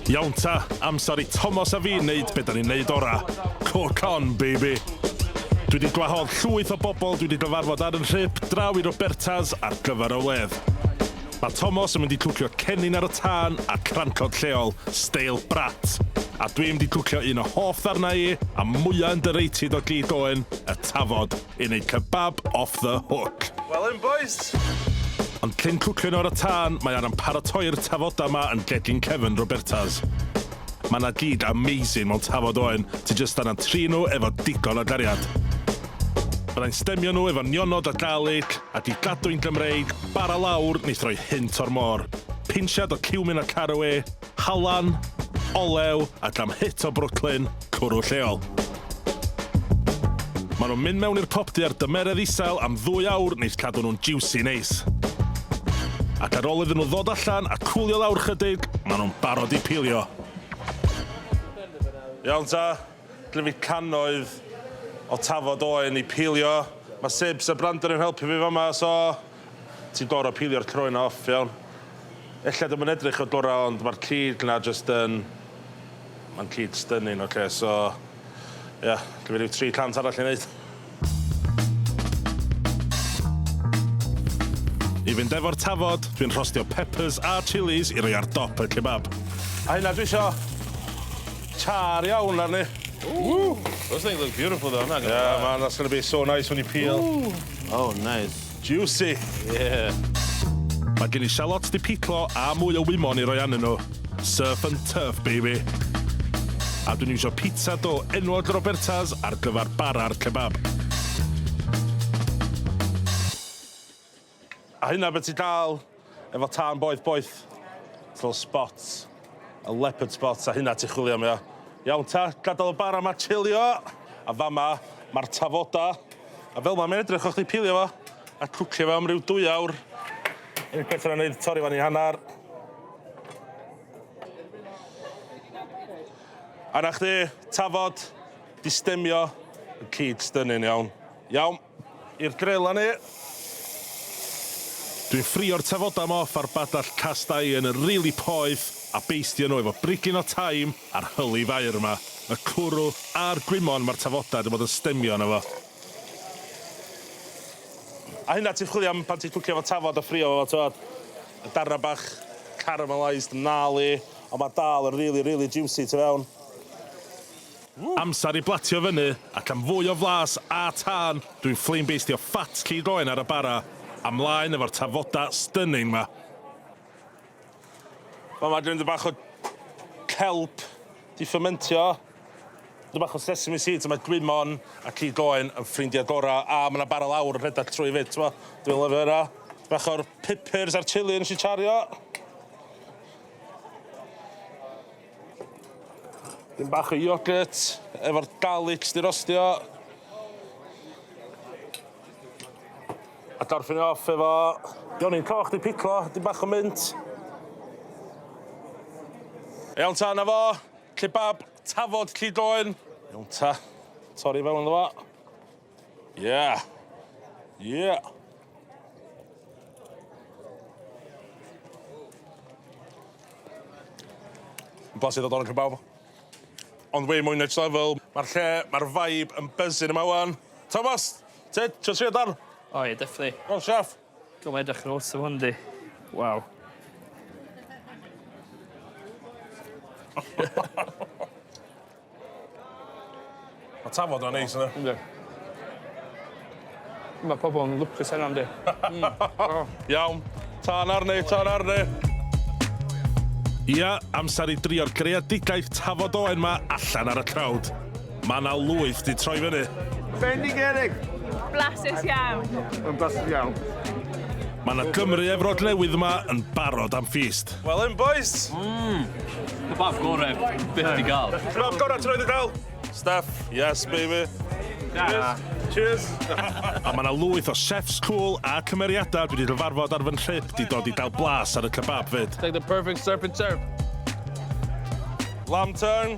Iawn ta, amser i Tomos a fi neud be da ni'n neud ora. Cook on, baby! Dwi di gwahodd llwyth o bobl dwi di gyfarfod ar yn nhrip draw i Roberta's ar gyfer y wledd. Mae Tomos yn mynd i cwcio cennin ar y tân a crancod lleol, steil brat. A dwi'm di cwcio un o hoff ddarnau i, a mwya underrated o gig Owen, y tafod. Yn ei kebab off the hook. Well in bois! Ond cyn cwcio nhw ar y tân, mae Aran paratoi'r tafoda ma yn gegin cefn Roberta's. Mae na gig amazing mewn tafod oen, ti jyst angan trin nhw efo digon o gariad. Byddai'n stemio nhw efo nionod o garlic, ac i gadw'n Gymreig, bara lawr, neu throi hynt o'r môr. Pinsiad o ciwmin a carawê. Halan, olew a jam hit o Brooklyn, cwrw lleol. Maen nhw'n mynd mewn i'r popty ar dymeredd isel am ddwy awr neis cadw nhw'n jiwsi neis. Ac ar ôl iddyn nhw ddod allan a cwlio lawr chydig, maen nhw'n barod i pilio. Iawn ta, gynna fi cannoedd o tafod oen i pilio. Mae Sibs a Brandon yn helpu fi fama, so... Ti'n gor'o' pilio'r croen 'na off iawn. Ella dyw 'i'm yn edrych yn gorau ond ma'r cig 'na jyst yn... Ma'n cig stunning oce so ia, gei fi ryw tri cant arall i neud. I fynd efo'r tafod, dwi'n rhostio peppers a chilis i roi ar dop y kebab. A hynna dwi isio char iawn arni. Ooh! Those things look beautiful though, I'm not gonna lie. Yeah man, that's gonna be so nice when you peel. Ooh! Oh nice. Juicy! Yeah! Mae gen i shallots 'di piclo a mwy o wymon i roi arnyn nhw. Surf and turf, baby! A dwi'n iwsio pizza dough enwog Roberta's ar gyfer bara'r kebab. A hynna be' ti'n dal? Efo tân boeth boeth. Little spots. A leopard spots a hynna ti chwilio am ia? Iawn ta, gadal y bara ma chilio. A fama ma'r tafoda. A fel ma mae'n edrych o chdi pilio fo. A cwcio fo am ryw dwy awr. Unig peth yna neud torri fan i hannar. A na chdi, tafod, di stemio. Y cig stunning iawn. Iawn. I'r grela ni! Dwi'n ffrio'r tafodau ma off ar badall cast iron yn rili poeth a beistio nhw efo brigyn o taim a'r hyli faer ma. Y cwrw a'r gwymon ma'r tafodau di bod yn stemio yno fo. A hynna ti'n chwilio am pan ti'n cwcio efo tafod a ffrio fo t'wod? Y darna bach caramelised gnarly ond ma dal yn rili rili jiwsi tu fewn. Amser i blatio fyny ac am fwy o flas a tân dwi'n flame beistio ffat cig oen ar y bara a mlaen efo'r tafoda stunning ma. Fel ma gen i bach o kelp di fermentio, dipyn bach o sesame seeds a ma gwymon a cig oen yn ffrindia gora a ma na bara lawr yn rhedag trwy fyd t'mo dwi'n lyfio hynna. Bach o'r pipyrs a'r chili nesh i chario. Dyn bach o yoghurt efo'r garlics di rostio. A gorffen off efo Jonin coch di piclo, dyn bach o mint. Iawn ta, na fo. Kebab tafod llidoen. Iawn ta. Torri fewn iddo fo. Yeah. Yeah. Blasu ddod o'n cybawb. Ond way mwy next level. Mae'r lle, mae'r vibe yn buzzing yma wan. Thomas, ti, ti'n trio dan? O ie, definitely. O, chef. Dwi'n mynd edrych yn ôl sy'n hwn di. Waw. Mae tafod yna neis yna. Ynddi. Mae pobl yn lwcus heno ynddi? Mm. Oh. Iawn. Tân arni, tân arni. Ia, amser i drio'r greadigaeth tafod oen ma allan ar y trawd. Mae yna lwyth di troi fyny. Bendigedig! Blasus iawn. Yn blasus iawn. Mae yna Gymru efrod newydd yma yn barod am ffist. Well yn bois! Mmm! Kebab gore byth di gael. Kebab gore ti roed di gael! Staff, yes baby! Tara! Cheers! A mae yna lwyth o chefs cwl a cymeriadau dwi di cyfarfod ar fy nhrip di dod i gael blas ar y kebab fyd. It's like the perfect surf and turf. Lamb tongue.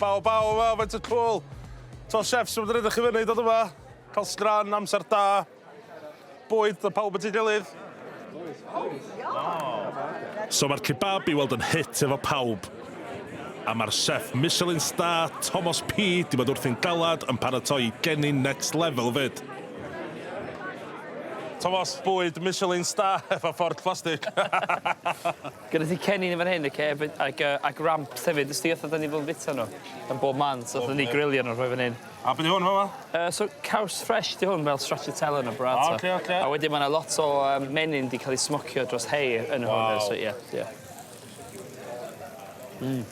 Baw, baw, baw, faint o cwl. To chefs yn rydych chi fyny, dod yma. Cael sgran, amser da. Bwyd, a pawb yn ti gilydd. So mae'r kebab i weld yn hit efo pawb. A mae'r chef Michelin star, Tomos P, di bod wrthi'n galad yn paratoi i geni next level fyd. Tomos, bwyd, Michelin star efo fforc plastig. Gyda ti cennin yn fan hyn oce b- ag yy ag ramps hefyd wsdi fatha 'dan ni fel yn bita nw yn bob man so allen ni grilio nw rhoi fan 'yn. A be' 'di hwn fama? Yy so caws ffresh 'di hwn fel stracciatella yn y burrata. O oce oce. A wedyn ma' 'na lot o yym menyn 'di ca'l 'i smocio dros hei yn hwn yy so ie ie. Mm.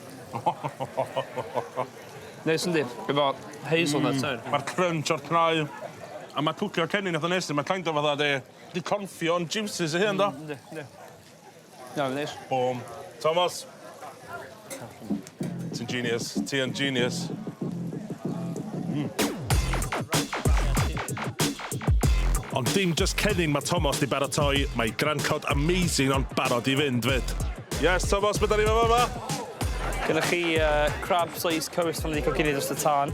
Neis yndi? Efo hazelnuts hefyd. Ma'r crunch o'r cnau a ma' cwcio cennin itha neis 'di ma' kind of fatha 'di 'di confio'n jiwsys ei hun do? Hmm yndi yndi. Iawn, neis. Bum. Tomos! Ti'n genius. Ti yn genius. Mm. Ond dim just cennin mae Tomos di baratoi, mae Grand Cod amazing ond barod i fynd fyd. Yes, Tomos, beth da ni fe fama? Gyda chi uh, crab sliced cowis fan wedi coginio dros y tân.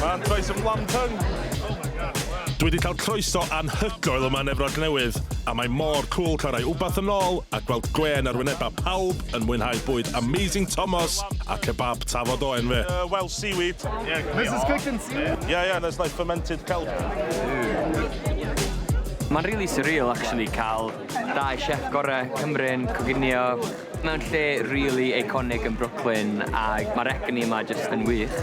Mae'n troes yn Lamtung. Oh my god, wow. Dwi wedi cael croeso anhygoel yma yn Efrog Newydd, a mae mor cwl cael rhai wbath yn ôl a gweld gwên ar wynebau pawb yn mwynhau bwyd amazing Tomos a kebab Tafod Oen fe. Uh, well, seaweed. Yeah, this is cooking seaweed. Yeah, yeah, there's like fermented kelp. Mae'n really surreal actually cael dau chef gorau Cymru'n coginio Mewn lle rili eiconig yn Brooklyn ag ma'r egni yma jyst yn wych.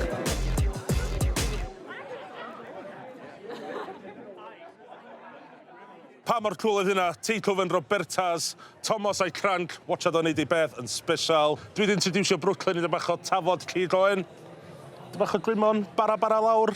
Pa mor cwl oedd hynna? Teitl fe'n Robertas, Tomos a'i Cranc, watshad o'n neud ei beth yn sbesial. Dwi 'di introducio Brooklyn i dipyn bach o tafod cig oen, dipyn bach o gwymon, bara bara lawr.